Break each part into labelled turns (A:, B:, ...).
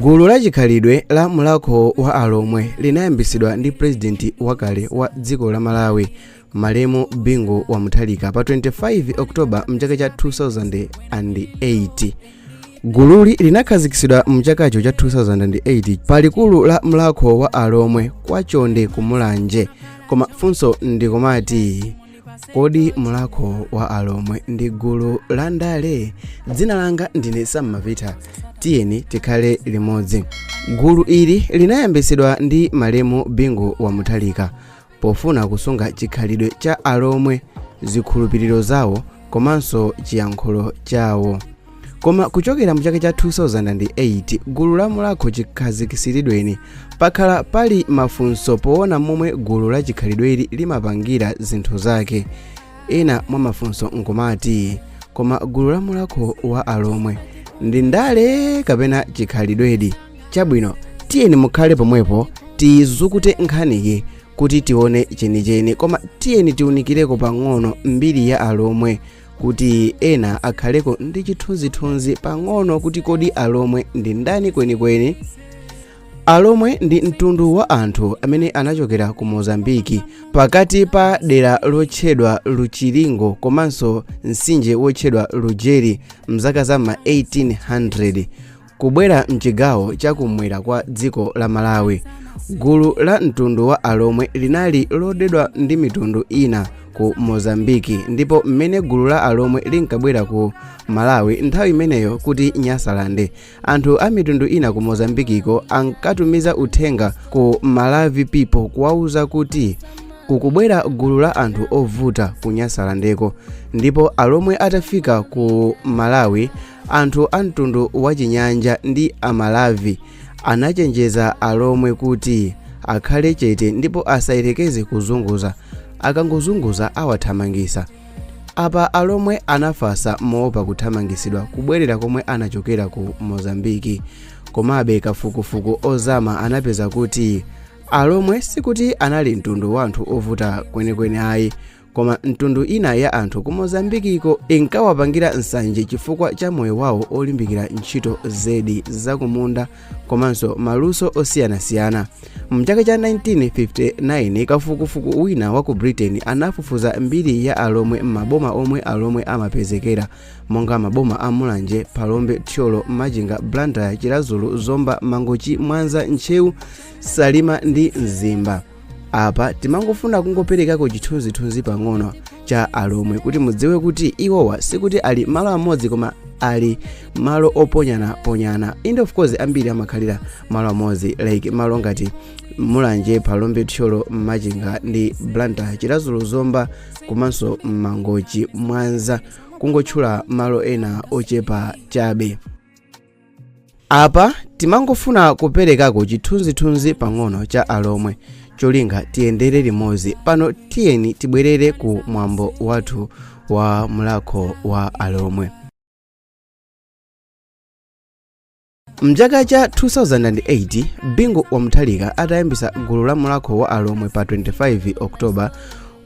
A: gulu la chikhalidwe la mulakho wa alomwe linayambitsidwa ndi pulezidenti wakale wa dziko la malawi malemu bingu wa mutharika pa 25 oktoba mchaka cha 2008 gululi linakhazikitsidwa mchakacho cha 2008 pa likulu la mulakho wa alomwe kwa chonde kumulanje koma funso ndikumati kodi mulakho wa alomwe ndi gulu la ndale dzina langa ndine sam mapita tiyeni tikhale limodzi gulu ili linayambitsidwa ndi malemu bingu wa mutharika pofuna kusunga chikhalidwe cha alomwe zikhulupiriro zawo komanso chiyankhulo chawo koma kuchokera mu chaka cha 2008 gulu la mulakho chikhazikisiridweni pakhala pali mafunso poona momwe gulu la chikhalidweli limapangira zinthu zake ena mwa mafunso nkumati koma gulu la mulakho wa alomwe ndi ndale kapena chikhalidwedi chabwino tiyeni mukhale pomwepo tizukute nkhaniyi kuti tione chenicheni koma tiyeni tiunikireko pang'ono mbiri ya alomwe kuti ena akhaleko ndi chithunzithunzi pang'ono kuti kodi alomwe ndi ndani kwenikweni alomwe ndi mtundu wa anthu amene anachokera ku mozambiki pakati pa dera lotchedwa luchilingo komanso mtsinje wotchedwa lujeri mzaka za ma 1800 kubwera mchigawo chakumwera kwa dziko la malawi gulu la mtundu wa alomwe linali lodedwa ndi mitundu ina ku mozambiki ndipo mmene gulu la alomwe linkabwera ku malawi nthawi imeneyo kuti nyasalande anthu a mitundu ina ku mozambikiko ankatumiza uthenga ku malavi people kuwauza kuti kukubwera gulu la anthu ovuta ku nyasalandeko ndipo alomwe atafika ku malawi Anthu a mtundu wachinyanja ndi Amalavi anachenjeza Alomwe kuti akhale chete ndipo asayerekeze kuzunguza. Akangozunguza awathamangisa. Apa Alomwe anafasa moopa kuthamangisidwa kubwerera komwe anachokera ku Mozambiki. Komabe kafukufuku ozama anapeza kuti Alomwe sikuti anali mtundu wa anthu ovuta kwenikweni ayi, koma mitundu ina ya anthu ku mozambikiko inkawapangira nsanje chifukwa cha moyo wawo olimbikira ntchito zedi zakumunda komanso maluso osiyanasiyana mchaka cha 1959 kafukufuku wina wa ku britain anafufuza mbiri ya alomwe m'maboma omwe alomwe amapezekera monga maboma a mulanje phalombe thyolo machinga blantyre chiradzulu zomba mangochi mwanza ntcheu salima ndi mzimba apa timangofuna kungoperekako chithunzithunzi pang'ono cha alomwe kuti mudziwe kuti iwowa sikuti ali malo amodzi koma ali malo oponyanaponyana and of course ambiri amakhalira malo amodzi like malo ngati mulanje phalombe thyolo machinga ndi blantyre chiradzulu zomba komanso mangochi mwanza kungotchula malo ena ochepa chabe apa timangofuna kuperekako chithunzithunzi pang'ono cha alomwe cholinga tiyendere limodzi pano tiyeni tibwerere ku mwambo wathu wa mlakho wa alomwe mchaka cha 2008 bingu wa mutharika atayambisa gulu la mlakho wa alomwe pa 25 oktoba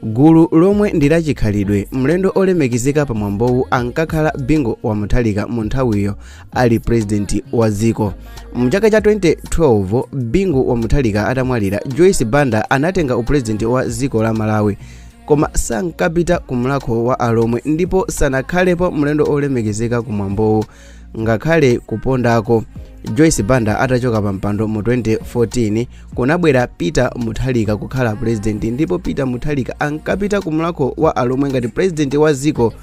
A: Gulu lomwe ndi la chikhalidwe, mlendo olemekezeka pa mwambowu ankakhala Bingu wa Mutharika mu nthawiyo ali president wa dziko. Mu chaka cha 2012 Bingu wa Mutharika atamwalira, Joyce Banda anatenga upresident wa dziko la Malawi koma sankapita ku mlakho wa alomwe ndipo sanakhalepo mlendo olemekezeka ku mwambowu. ngakhale kupondako joyce banda atachoka pa mpando mu 2014 kunabwera peter mutharika kukhala purezidenti ndipo peter mutharika ankapita ku mlakho wa alomwe ngati purezidenti wa dziko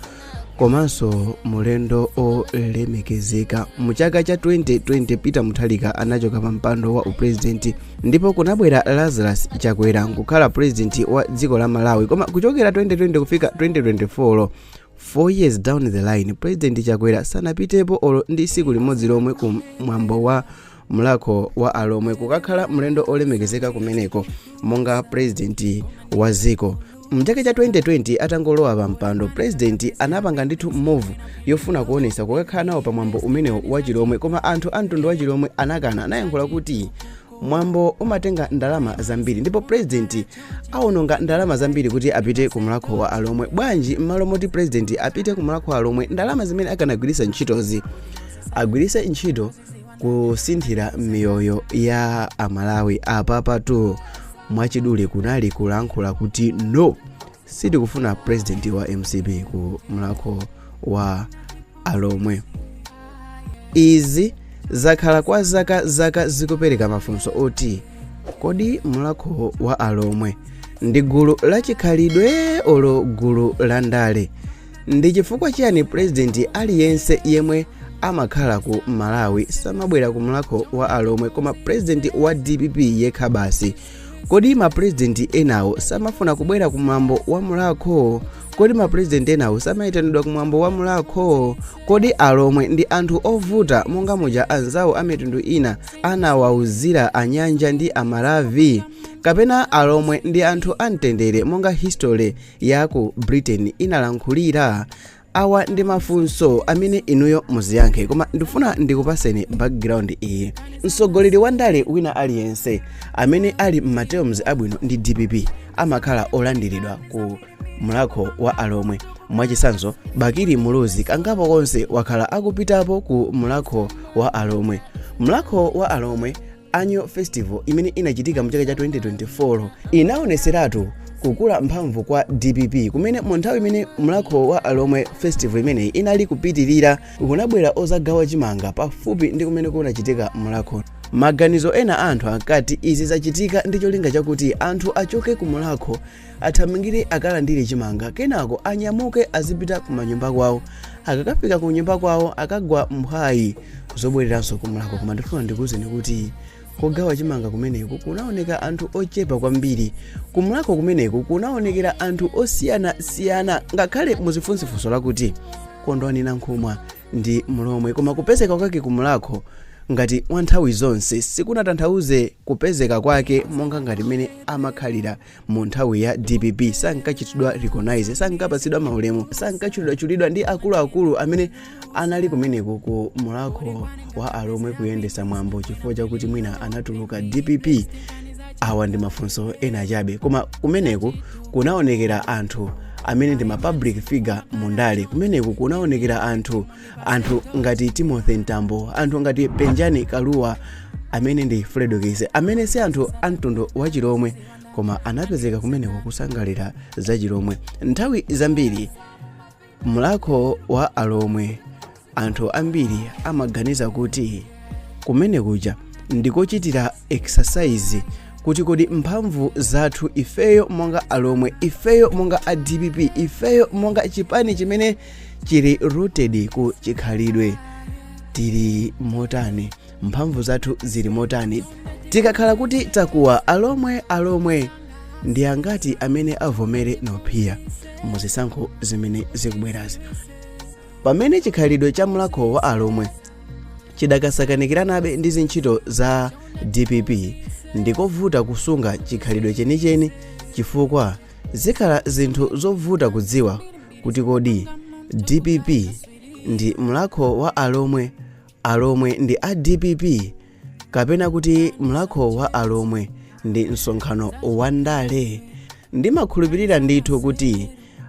A: komanso mulendo olemekezeka mu chaka cha 2020 peter mutharika anachoka pa mpando wa upurezidenti ndipo kunabwera lazarus chakwera kukhala purezidenti wa dziko la malawi koma kuchokera 2020 kufika 2024 4 years down the line president chakwera sanapitepo olo ndi siku limodzi lomwe ku mwambo wa mlakho wa alomwe kukakhala mlendo olemekezeka kumeneko monga president wa dziko mchaka cha 2020 atangolowa pa mpando president anapanga ndithu move yofuna kuonesa kukakhala nawo pa mwambo umenewo wa chilomwe koma anthu a mtundu wa chilomwe anakana anayankhula kuti mwambo umatenga ndalama zambiri ndipo purezidenti awononga ndalama zambiri kuti apite ku mlakho wa alomwe bwanji m'malo moti purezidenti apite ku mlakho wa alomwe ndalama zimene akanagwiritsa ntchitozi agwiritse ntchito kusinthira miyoyo ya amalawi apapatu mwachidule kunali kulankhula kuti no sitikufuna president wa mcp ku mlakho wa alomwe izi zakhala kwa zaka zaka zikupereka mafunso oti kodi mlakho wa alomwe ndi gulu la chikhalidwe olo gulu la ndale ndi chifukwa chiyani president aliyense yemwe amakhala ku malawi samabwera ku mlakho wa alomwe koma president wa dpp yekha basi kodi mapurezidenti enawo samafuna kubwera ku mwambo wa mulakho kodi mapurezidenti enawo samayitanidwa ku mwambo wa mulakho kodi alomwe ndi anthu ovuta monga muja anzawo a mitundu ina anawauzira anyanja ndi amalavi kapena alomwe ndi anthu amtendere monga history ya ku britain inalankhulira awa ndi mafunso amene inuyo muziyankhe koma ndifuna ndikupaseni background iyi mtsogoleri wa ndale wina aliyense amene ali m'materms abwino ndi dpp amakhala olandiridwa ku mlakho wa alomwe mwachisanzo bakili muluzi kangapo konse wakhala akupitapo ku mlakho wa alomwe mlakho wa alomwe Annual Festival imene inachitika mu chaka cha 2024 inaoneseratu kukula mphamvu kwa dpp kumene mu nthawi imene mlakho wa alomwe festival imeneyi inali kupitirira kunabwera ozagawa chimanga pafupi ndi kumene kunachitika mlakho maganizo ena a anthu akati izi zachitika ndi cholinga chakuti anthu achoke ku mlakho athamangire akalandire chimanga kenako anyamuke azipita kumanyumba kwawo akakafika ku nyumba kwawo akagwa mphwayi zobwereranso kumlakho koma ndifuna ndikuwuzeni kuti kogawa chimanga kumeneku kunaoneka anthu ochepa kwambiri kumlakho kumeneku kunaonekera anthu osiyanasiyana ngakhale muzifunsa funso lakuti kondwani nankhumwa ndi mlomwe koma kupezeka kwake kumlakho ngati wa nthawi zonse sikunatanthauze kupezeka kwake monga ngati mmene amakhalira mu nthawi ya dpp sankachitidwa recognize sankapatsidwa maulemu sankachulidwachulidwa ndi akuluakulu amene anali kumeneku ku mulakho wa alomwe kuyendesa mwambo chifukwa chakuti mwina anatuluka dpp awa ndi mafunso ena chabe koma kumeneku kunaonekera anthu amene ndi ma public figure mu ndale kumeneku kunaonekera anthu anthu ngati timothy mtambo anthu ngati penjani kalua amene ndi fredokiss amene si anthu a mtundu wa chilomwe koma anapezeka kumeneku kusangalira za chilomwe nthawi zambiri mlakho wa alomwe anthu ambiri amaganiza kuti kumene kuja ndikochitira exercise kuti kodi mphamvu zathu ifeyo monga alomwe ifeyo monga a dpp ifeyo monga chipani chimene chili rooted ku chikhalidwe tili motani mphamvu zathu zili motani tikakhala kuti takuwa alomwe alomwe ndi angati amene avomere nophiya muzisankho zimene zikubwerazi pamene chikhalidwe cha mlakho wa alomwe chidakasakanikiranabe ndi zintchito za dpp ndikovuta kusunga chikhalidwe chenicheni chifukwa zikhala zinthu zovuta kudziwa kuti kodi dpp ndi mlakho wa alomwe alomwe ndi a dpp kapena kuti mlakho wa alomwe ndi msonkhano wa ndale ndimakhulupirira ndithu kuti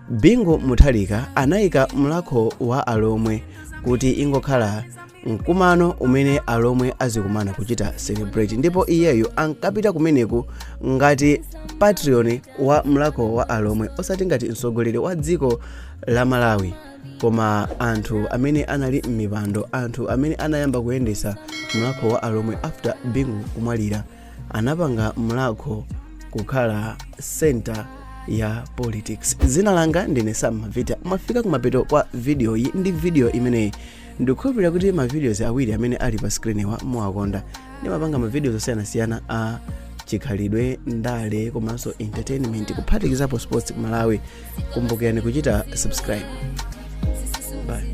A: bingu mutharika anayika mlakho wa alomwe kuti ingokhala mkumano umene alomwe azikumana kuchita celebrate ndipo iyeyo ankapita kumeneku ngati patron wa mlakho wa alomwe osati ngati mtsogoleri wa dziko la malawi koma anthu amene anali m'mipando anthu amene anayamba kuyendetsa mlakho wa alomwe after bingu kumwalira anapanga mlakho kukhala center ya politics dzina langa ndine sam mavita mwafika kumapeto kwa video iyi ndi video imeneyi ndikukhulupirira kuti ma videos awiri amene ali pa screen wa muwakonda ndimapanga ma videos osiyanasiyana a chikhalidwe ndale komanso entertainment kuphatikizapo sports ku malawi kumbukirani kuchita subscribe bye